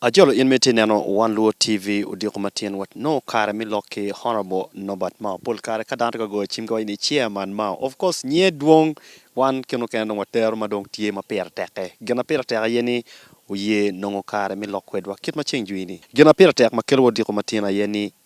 Ajolo in ma itye neno One Luo TV odiko ma tyen wa nongo kare me lok ki Honourable Nobert Mao pol kare ka dano tye ka goyo cim ka waco ni Chairman Mao of course nyiye dwong wan kine okene dong watero ma dong tye ma pire teke gin ma pire tek aye ni oye nongo kare me lok kwedwa kit ma ceng jwi ni gin ma pire tek ma kelo wa odiko ma tyen aye ni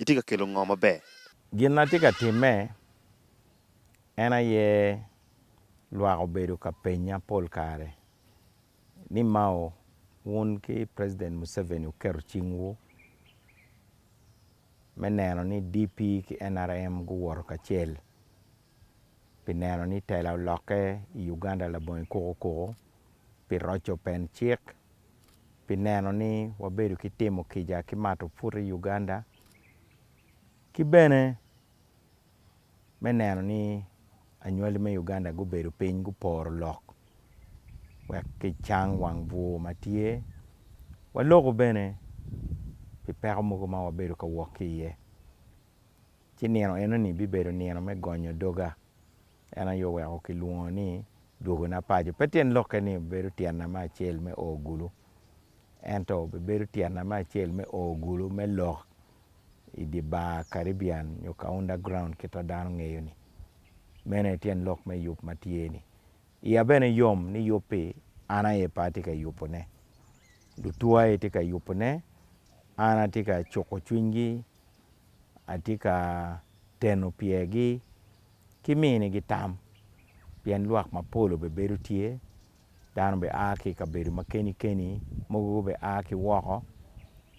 itye ka kelo ngo maber? Gin atye ka timme en aye lwak obedo ka penya pol kare ni Mao wun ki President Museveni wuketo cingwu me neno ni DP ki nrm guwoto kacel pi neno ni tela olokke i Uganda labongo i kuku kuku, pi roco pen cik, pi neno ni wabedo ki timo kica ki mato put i Uganda ki bene me neno ni anywali me Uganda gubedo piny guporo lok wek kicang wang bur ma tye, waloko bene pi peko mogo ma wabedo ka wok ki iye. ci nino enoni bibedo nino me gonyo doga. En aye oweko kilwongo ni dwogona paco. Pe tyen lokke ni bedo tyena me acel me o gulu, ento bedo tyena me acel me o gulu me lok i dye bar Caribbean nyo ka underground kit ma dano ngeyo-ni. Meno aye tyen lok me yub ma tye-ni. Iya bene yom ni yub-bi, an aye pe atye ka yubone, lutua aye tye ka yubone, an atye ka cuko cwinygi atye ka teno pyergi ki minigi tam pien lwak mapol bene bedo tye dano bene a ki i kabedo ma keni keni mogo bene a ki woko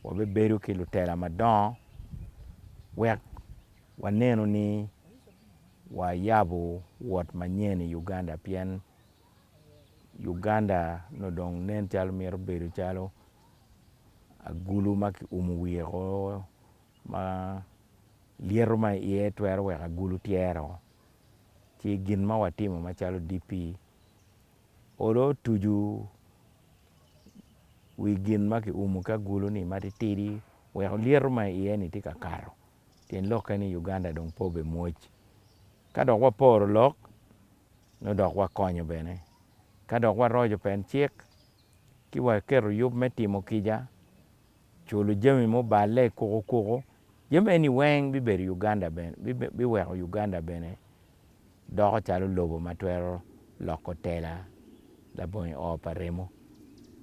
wabedo ki lutela madongo wek wanenu ni wayabo wot manyen i Uganda pien Uganda nongo dong nen calo mito bedo calo agulu ma kiumo wiye woko ma lyeto ma iye twero weko agulu tyero ci gin ma watimo macalo DP olo otucu wi gin ma kiumo ki agulu-ni matitidi weko lyeto ma iye-ni tye ka kato pien lokke ni Uganda dong pe obimwoc ka dok waporo lok nongo dok wakonyo bene. Ka dok waroco pen cik ci waketo yub me timo kica, culo jami muballe i kuku kuku, jami eni weng bibedo Uganda bene, biweko Uganda bene doko calo lobo ma twero loko tela labongi oo pa remo.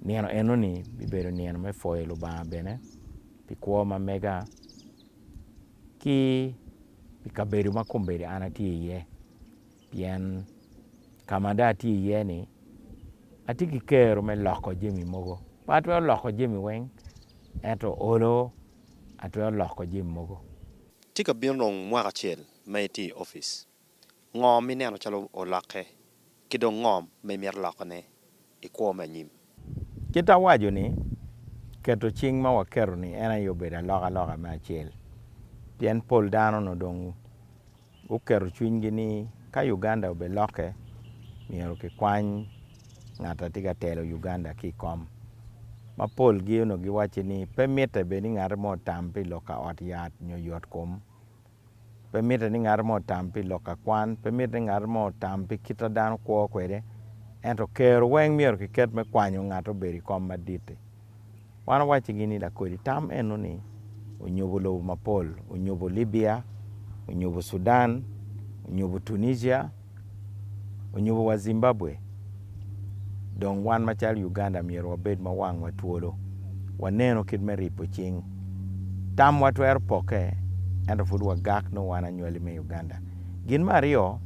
Nino enoni bibedo nino me pwoyo Lubanga bene pi kwo ma mega ki i kabedo ma kombeddi an atye iye. Pien ka ma dong atye iye-ni, atye ki kero me loko jami mogo. Pe atwero loko jami weng, ento olo atwero loko jami mogo. Tye ka bino dong mwaka acel ma itye i opic. Ngo ma ineno calo olokke, ki dong ngo ma imito lokone i kwo me anyim? Kit awaco ni, keto cing ma waketo ni en aye obedo alokaloka me acel, pien pol dano nongo dong guketo cwinygi ni ka Uganda obe lokke myero ki kwany ngat a tye ka telo Uganda ki i kom, ma pol gi onongo giwacci ni pe mitte bed ni ngate mo otam pi lok ka ot yat nyo yot kom. Pe mitte ni ngat mo otam pi lok ka kwan, pe mitte ni ngat mo otam pi kit ma dano kwo kwede, ento kero weng myero kiket me kwanyo ngat obed i kom madit-ti. Wan owaccigi ni lakodi tam eno-ni onyubo lobo mapol, onyubo Libya, onyubo Cudan, onyubo Tunisia, onyubo wa Zimbabwe dong wan macalo Uganda myero wabed ma wangwa twolo waneno kit me ripo cing. Tamwa twero pokke ento pud wagak nongo wan anywali me Uganda. Gin me aryo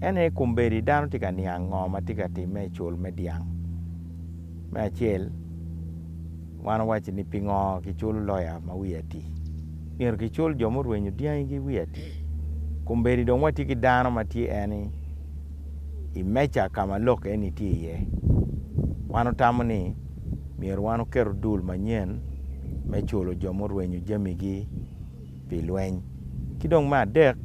en aye kombeddi dano tye ka niang ngo ma tye ka timme i cul me dyang. Me acel. Wan wawacci ni pingo kiculo loya ma wiye atir? Myero kicul jo murwenyo dyangigi wiye atir. Kombeddi dong watye ki dano ma tye en i meja ka ma lok eni tye iye. Wan otamo ni myero wan oketo dul manyen me culo jo murwenyo jamigi. pi lweny. Ki dong me adek,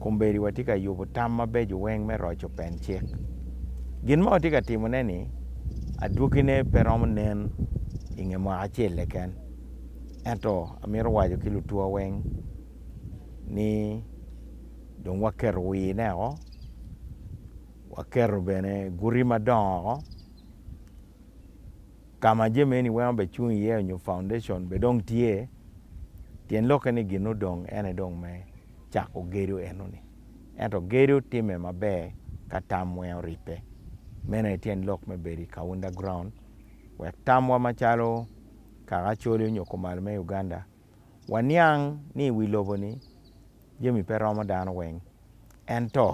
kombeddiwa tye ka yubo tam mabeco weng me roco pen cik. Gin ma watye ka timone-ni adwogine pe romo nen i nge mwaka acel keken. Ento amito waco ki lutwa weng ni dong waketo wine woko, waketo bene guti madongo woko. Ka ma jami eni weng obecung iye onyo foundation be dong tye, tyen lokke ni gin odong ene dong me cako gedo eno ni. Ento gedo time maber ka tam weng oribbe. Meno aye tyen lok me bedo ika underground wek tamwa macalo kaka Acholi onyo Kumalo me Uganda waniang ni iwi lobo ni jami pe romo dano weng. Ento.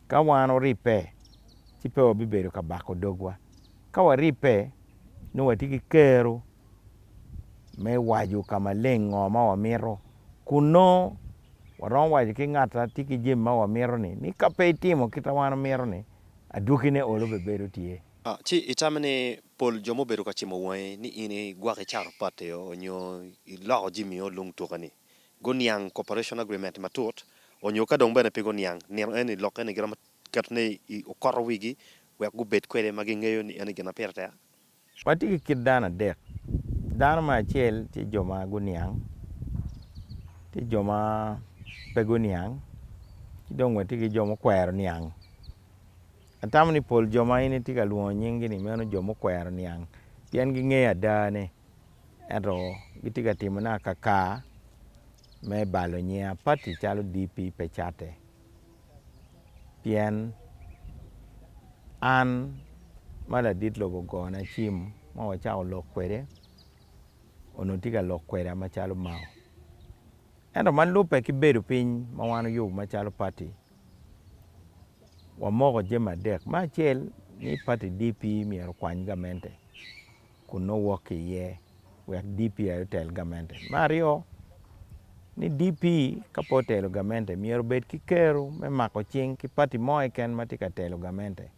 Ka wan oribbe, ci pe wabibedo ka bako dogwa. Ka waribbe, nongo watye ki kero me waco ka maleng ngo ma wamito. Kun nongo waromo waco ki ngat ma tye ki jami ma wamito-ni ni, 'Ka pe itimo kit ma wan wamito-ni, adwogine olo pe bedo tye. Ci itame ni pol jo mubedo ka cimo wangi ni in igwoko icato potti-o nyo iloko jamio lung tuka-ni. Guniang Cooperation Agreement matut onyo ka dong bene pe guniang, nino eni lok eni giromo keto ne i okoto wigi wek gubed kwede ma gingeyo ni en aye gin ma pire tek. Watye ki kit dano adek, dano me acel tye jo ma guniang, tye jo ma pe guniang, ki dong watye ki jo mukwero niang. Atamo ni pol jo ma in itye ka lwongo nying-gi ni meno jo mukwero niang pien gingeyo ada ne. ento gitye ka timone akaka me balo nyinga pati calo DP pe catte pien an ma ladit lobo ogona cim ma wacako lok kwede onongo tye ka lok kweda macalo mao ento ma lubbe ki bedo piny ma wan oyubo macalo pati wamoko jami adek me acel ni pati DP myero okwany gamente. kun nongo wok ki iye wek DP aye otel gamente. Me aryo, ni DP ka pe otelo gamente myero obed ki kero me mako cing ki pati mo keken ma tye ka telo gamente.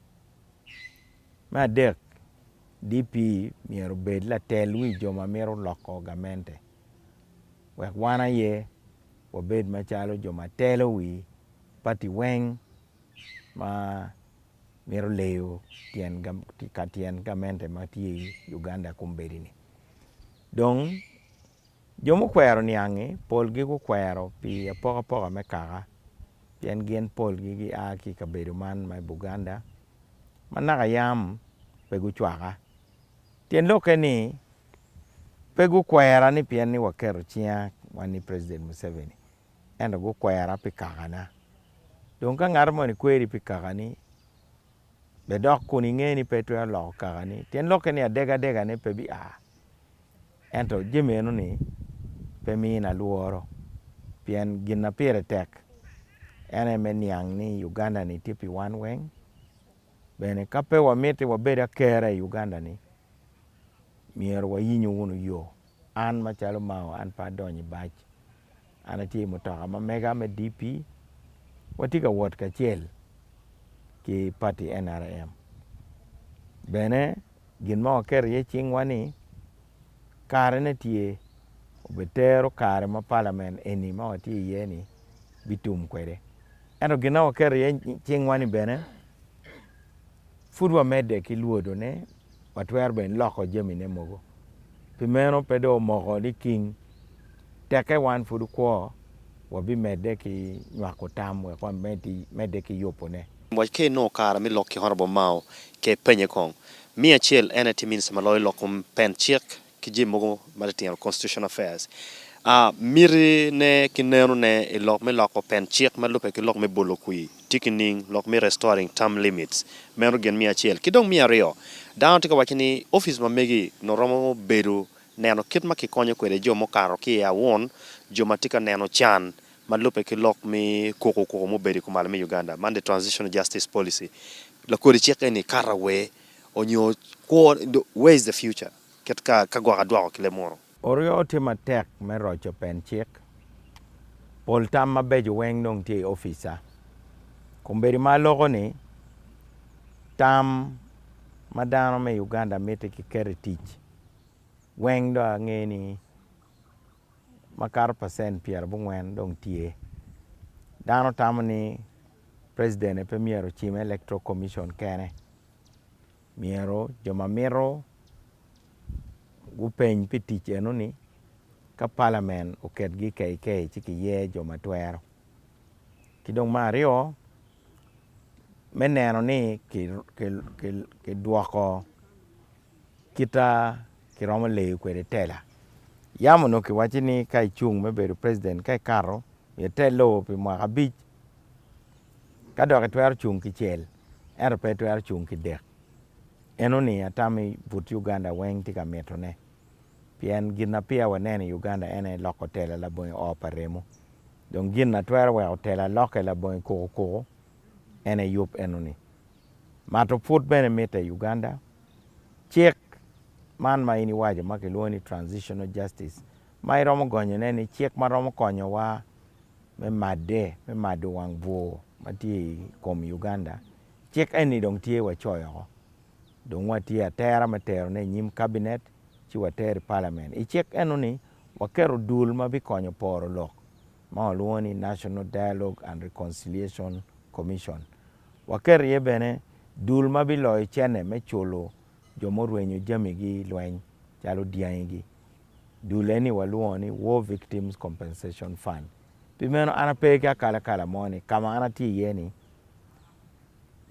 Me adek, DP myero obed latel wi jo ma mito loko gamente wek wan aye wabed macalo jo ma telo wi pati weng. ma mito leyo tyen gamente ma tye i Uganda kombeddi ni dong jo mukwero niangi polgi gukwero pi apokapoka me kaka pien gin polgi gia ki i kabedo man ma i Buganda ma naka yam pe gucwaka tyen lokke ni pe gukwera ni pien ni waketo cinga wan i president Museveni ento gukwera pi kakana. Dong ka ngat moni kweri pi kakani, bed dok kun inge ni pe itwero loko kakani. Tyen lokke ni adegadegane pe bia, ento jami enoni pe mina lworo pien gin ma pire tek en aye me niang ni Uganda-ni tye pi wan weng. Bene ka pe wamiti wabed akera i Uganda-ni, myero wayinyo wunu yo. An macalo Mao, an pe adonyo i bac. an atye i mutoka ma mega me DP watye ka wot kacel ki pati NRM bene gin ma waketo iye cingwa ni karene tye obed tero kare ma palamen eni ma watye iye ni bitum kwede ento gin ma waketo iye cingwa ni bene pud wamedde ki lwodone watwero bene loko jamine mogo. Pi meno, pe dong omoko liking. Teke wan pud okwo, wabimedde ki nywako tam wek wamedde ki yubone. Waco ka inongo kare me lok ki Honorable Mao, ka ipenye kong. Miya acel, en aye tye Minista ma loyo lok kom pen cik ki jami mogo matitino, constitutional affairs, mitine ki nenone i lok me loko pen cik ma lubbe ki lok me bolo kwir tye ki ning lok me restoring term limits, meno gin me acel. Ki dong me aryo, dano tye ka waco ni office ma megi nongo romo bedo neno kit ma kikonyo kwede jo mukato ki i awun, jo ma tye ka neno can ma lubbe ki lok me kuku kuku ma obedo i kumalo me Uganda, man the transitional justice policy. Lakodi cik eni kato awer onyo kwo, where is the future? Kit ka ka gwok adwoko ki lemuru. Oryo tye matek me roco pen cik. Pol tam mabeco weng dong tye i ofica. Kombedi ma aloko ni, tam ma dano me Uganda miti ki keto i tic weng dong ange ni makato percent pyera abongwen dong tye. Dano tamo ni president aye pe myero ocime electoral commission kene. Myero jo ma mito gupeny pi tic eno ni ka palamen oketgi keikei ci giye jo ma twero. Ki dong me aryo me neno ni kidwoko kita kiromo leyo kwede tela. Yam onongo kiwaci ni ka icung me bedo president ka ikato myero ite lowo pi mwaka abic ka dok itwero cung kicel. ento pe etwero cung ki dek. En oningo atammi but Uganda weng tye ka mito ne. Pien gin ma peya waneno i Uganda en aye loko tela labonge oo pa remo. Dong gin na twero weko tela loke labonge kuku kuku en aye yub eno ni. Mato put bene mitte i Uganda. Cik man ma in iwaco ma kilwongo ni transitional justice ma iromo gonyo ne ni cik ma romo konyo wa me madde me mado wang bwur ma tye i kom Uganda, cik eni dong tye wacoyo woko dong watye atera me terone i nyim Kabinet ci watere i Palamen. I cik enoni, waketo dul ma bikonyo poro lok ma walwongo ni National Dialogue and Reconciliation Commission. Waketo iye bene dul ma biloyo cene me culo jo murwenyo jamigi i lweny calo dyangigi. dul eni walwongo ni War Victims Compensation Fund. Pi meno an ape ki akalakala mo ni ka ma an atye iye-ni,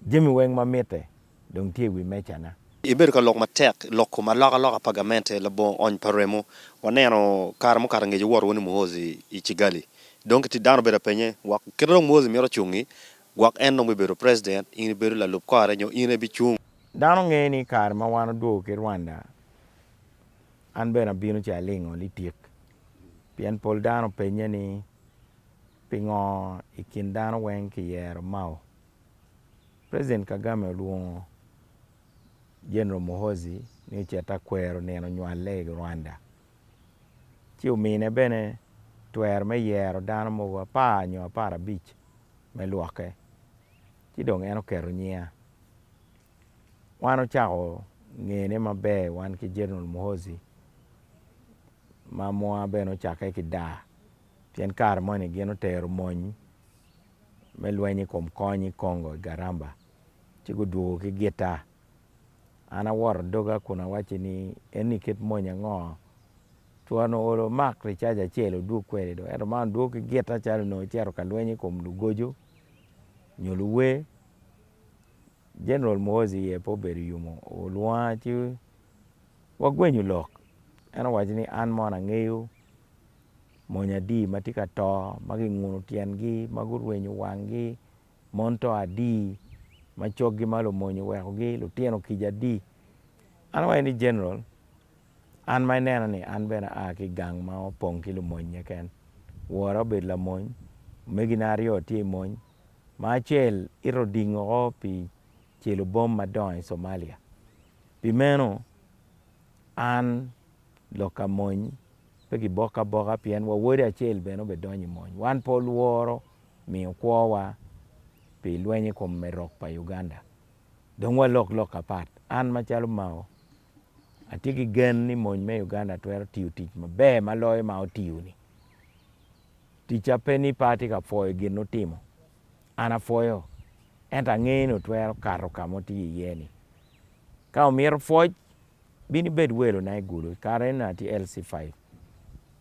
jami weng ma mitte dong tye i wi mecana. Ibedo ka lok matek i lok kom alokaloka pa gamente labongo ony pa remo. Waneno kare mukato ngec iwot wunu i Muhozi i Kigali. Dong ki ti dano obedo ka penye, Wek kit ma dong Muhozi mito ocungi, gwok en dong bibedo president, in ibedo lalub kore nyo in aye ibicung? Dano ngeyo ni i kare ma wan odwogo ki Rwanda, An bene abino ci alingo litik, pien pol dano openye ni, 'Pingo i kin dano weng kiyero Mao? President Kagame olwongo General Muhoozi ni ocit akwero nino nywalle i Rwanda, ci omine bene twero me yero dano mogo apar nyo apar abic me lwokke, ci dong en oketo nyinga. Wan ocako ngene maber wan ki General Muhoozi ma mwaa bene ocakke ki daa pien kare moni gin otero mony me lweny i kom kony i Congo i Garamba ci gudwogo ki gitta. An awoto doga kun awacci ni eni kit mony ango? Twara onongo oolo omak ricaja acel odwog kwede do ento ma odwogo ki gitta calo onongo ecito ka lweny i kom lugoco nyo luwe. Jeneral Muhoozi iye pe obedo yumo, olwonga ci wagwenyo lok. En owaco ni, 'An mono angeyo mony adi ma tye ka to, ma ginguno tyengi, ma gurwenyo wanggi, mon to adi ma coggi ma lumonye owekogi, lutino kica adi. An awaco ni, 'Jeneral, an ma inena-ni, an bene aa ki i gang ma opong ki lumony keken. Wora obedo lamony, omegina aryo tye i mony. ma acel ito oding woko pi celo bom madongo i Somalia. Pi meno, an, lok ka mony, pe giboko aboka pien wawode acel bene obedonyo i mony. Wan pe olworo miyo kwowa pi lweny i kom me rok pa Uganda. Dong walok lok apat. An macalo Mao. Atye ki gen ni mony me Uganda twero tiyo tic maber ma loyo ma otiyo-ni. Ticca pe ni pe atye ka pwoyo gin nutimo, an apwoyo, ento angeyo ni otwero kato ka ma otiyo iye-ni. Ka omito pwoc, bin ibed welona i Gulu. I kare eno atye LC five,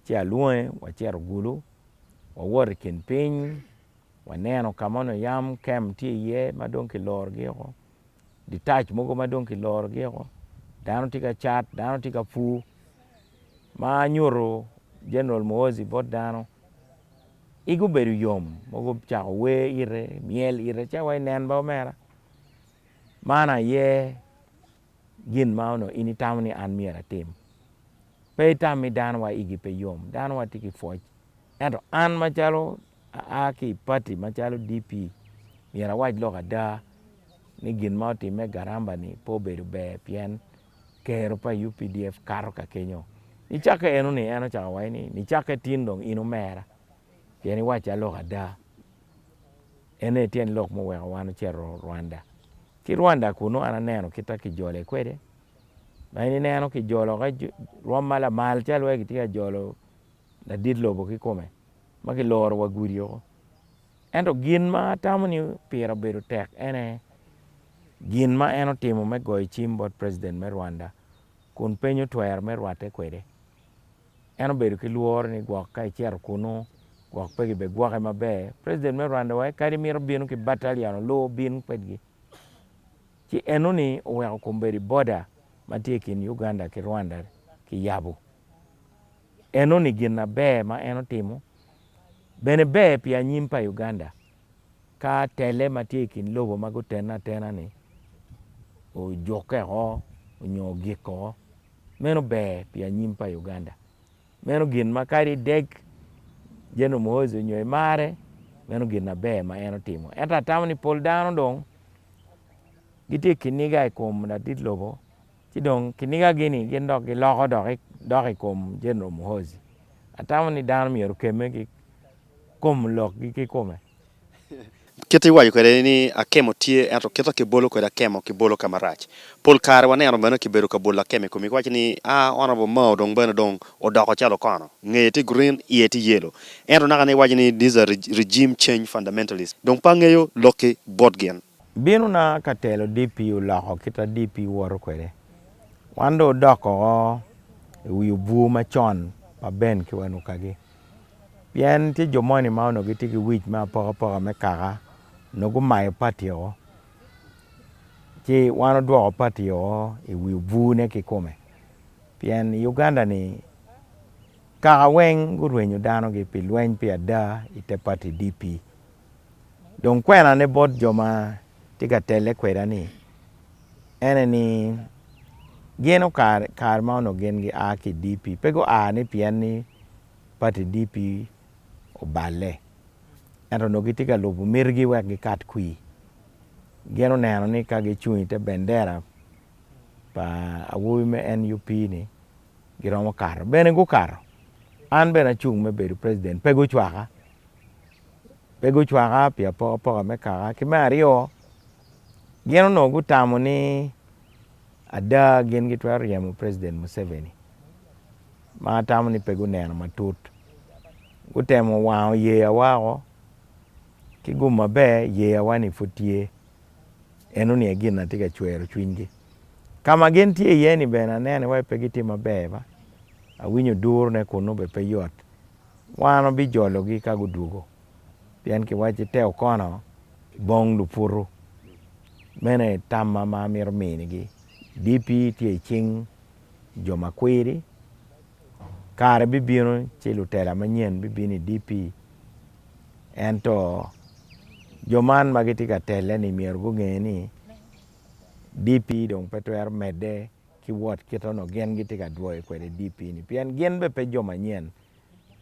ci alwonge wacito Gulu, wawoto i kin piny, waneno ka ma onongo yam camp tye iye ma dong kilorogi woko. ditac mogo ma dong kilorogi woko dano tye ka cat dano tye ka pur ma nyuto General muhoozi bot dano igi obedo yom ma gucako wer ite myel ite cito wa inen bene omera man aye gin ma onongo in itamo ni an myero atim pe itam ni dano wa igi pe yom dano wa tye ki pwoc. Ento an macalo aa ki i pati macalo DP, myero awac lok ada ni gin ma otimme Garamba ni pe obedo ber pien kero pa updf kato ka kenyo. Nicakke eno ni en ocako waco ni nicakke tin dong in omera pien iwacca lok ada. En aye tyen lok muweko wan ocito Rwanda. Ki Rwanda kunu an aneno kit ma kijole kwede ma in ineno kijolo rwom ma lamal calo wai kitye ka jolo. ladit lobo kikome ma kiloro wa gudi woko. Ento gin ma atamo ni pire obedo tek en aye gin ma en otimo me goyo cim bot president me Rwanda kun piny otwero me rwatte kwede. En obedo ki lworo ni gwok ka ecito kunu gwok pe gibegwoke maber. President me Rwanda waye kadi mito bino ki battalion oluu obin kwedgi. Ci enoni oweko kombeddi border ma tye i kin Uganda ki Rwanda kiyabo. Enoni gin aber ma en otimo bene ber pi anyim pa Uganda ka tele ma tye i kin lobo ma gutene atena-ni ojukke oko nyo ogik oko. Meno ber pi anyim pa Uganda. Meno gin ma kadi ideg General Muhoozi onyo imare, meno gin aber ma en otimo. Ento atamo ni pol dano dong gitye ki kiniga i kom ladit lobo Ci dong kinigagi-ni gin dok giloko dok i kom Jeneral Muhoozi. Atamo ni dano myero okemme ki kom lokgi kikome. Kit iwaco kwede ni akemo tye ento kit ki bolo kwede akemo ki bolo kama rac. Pol kare waneno meno ki bedo ka bolo akemo i komi ki waco ni aah Honourable Mao dong bene dong odoko calo okono. Ngeye tye green, iye tye yellow. Ento naka ni iwaco ni these are regime change fundamentalists. Dong pe angeyo lokki bot gin. Binona ka telo DP oloko kita DP woto kwede. Wan dong odok woko i wi obwur macon pa Ben ki Wanukagi. Pien tye jo moni ma onongo gitye ki wic me apokapoka me kaka nongo gumayo pati woko ci wan odwoko pati woko i wi obwurne kikome. Pien i Uganda-ni kaka weng gurwenyo danogi pi lweny pi ada i te pati DP. Dong kwenane bot jo ma tye ka telle kweda-ni ene ni gin okare kare ma onongo gin gia ki i DP pe gua ni pien ni pati DP oballe ento onongo gitye ka lubo mitigi wek gikat kwir. Gin oneno ni ka gicung i te bendera pa awobi me NUP-ni giromo kato. Bene gukato, an bene acung me bedo president pe gucwaka. pe gucwaka pi apokapoka me kaka. Ki me aryo, gin onongo gutamo ni ada gin gitwero ryemo President Museveni, ma atamo ni pe guneno matut. Gutemo wango yeya wako, ki gum maber yeya wa ni pud tye. Eno ni aye gin na tye ka cwero cwinygi. Ka ma gin tye iye ni bene aneno iwaci pe gitye maber ba, awinyo durone kunu bene pe yot. wan wabijologi ka gudwogo, pien kiwacci, 'Te okono bong luputu. Meno aye tamma ma amito minigi, Dipi tye i cing jo ma kwiri. Kare bibino ci lutela manyen bibino i dipi, ento jo man ma gitye ka telle-ni myero gunge ni dipi dong pe twero medde. ki wot kit onongo gin gitye ka dwoyo kwede DP-ni pien gin bene pe jo manyen.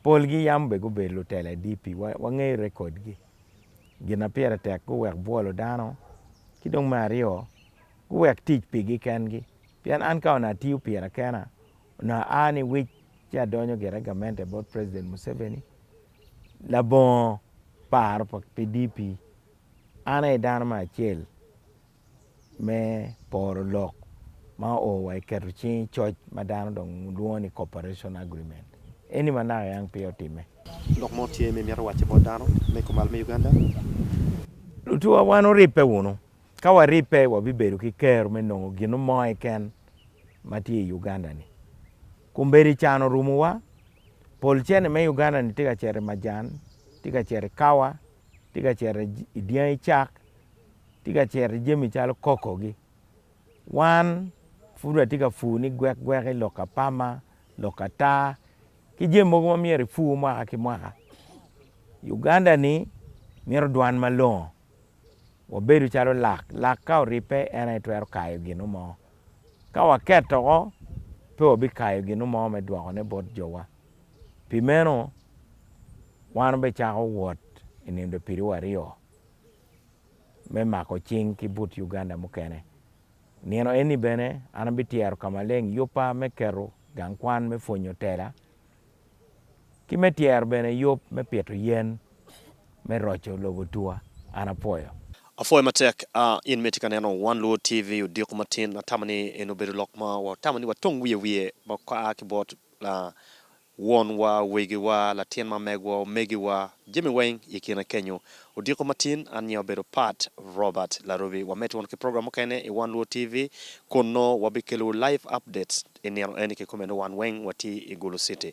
Polgi yam bene gubedo lutela i DP, wangeyo rekodgi. Gin ma pire tek guwek bwolo dano, ki dong me aryo, guwek tic pigi kengi. Pien an ka onongo atiyo pira kena, onongo aa ni wic ci adonyo gire gamente bot president Museveni labongo paro pi DP. An aye dano me acel. me poro lok ma oo wa iketo cing i coc ma dano dong lwongo ni cooperation agreement eni ma naka yang peya otimme. Lok mo tye ma imito wacce bot dano me kumal me Uganda? Lutuwa wan wuribbe wunu. Ka waribbe wabibedo ki kero me nongo gino mo keken ma tye i Uganda ni. Kombeddi can orumo wa, pol cene me Uganda ni tye ka cito i majan, tye ka cito i kawa, tye ka cito i dyangi cak, tye ka cito i jami calo kokogi. Wan pud watye ka pur ni gwekgweki, lok ka pama, lok ka taa ki jami mogo ma myero ipur mwaka ki mwaka. Uganda-ni mito dwan malongo, wabedo calo lak, lak ka oribbe en aye twero kayo gin mo. Ka waketo woko pe wabikayo gin mo me dwokone bot jowa. Pi meno, wan obicako wot i nino dye pidowa aryo. me mako cing ki but Uganda mukene. Nino eni bene an abityero ka maleng yubba me keto gang kwan me pwonyo tela ki me tyero bene yub me pito yen me roco lobo tua. An apwoyo. Apwoyo matek a in ma itye ka neno One Luo TV odiko matin. Atamo ni eni obedo lok ma watamo ni watong wiye wiye ma a ki bot Wonwa, wegiwa, latin ma megwa, omegiwa, jami weng i kine kenyo. Odiko matin, anya obedo Pat, Robert, Larubi. Wamed twon ki program mukene i One Luo TV, kun noo wabi kelowu live updates i nino eni kikome noo wan weng watye i Gulu City.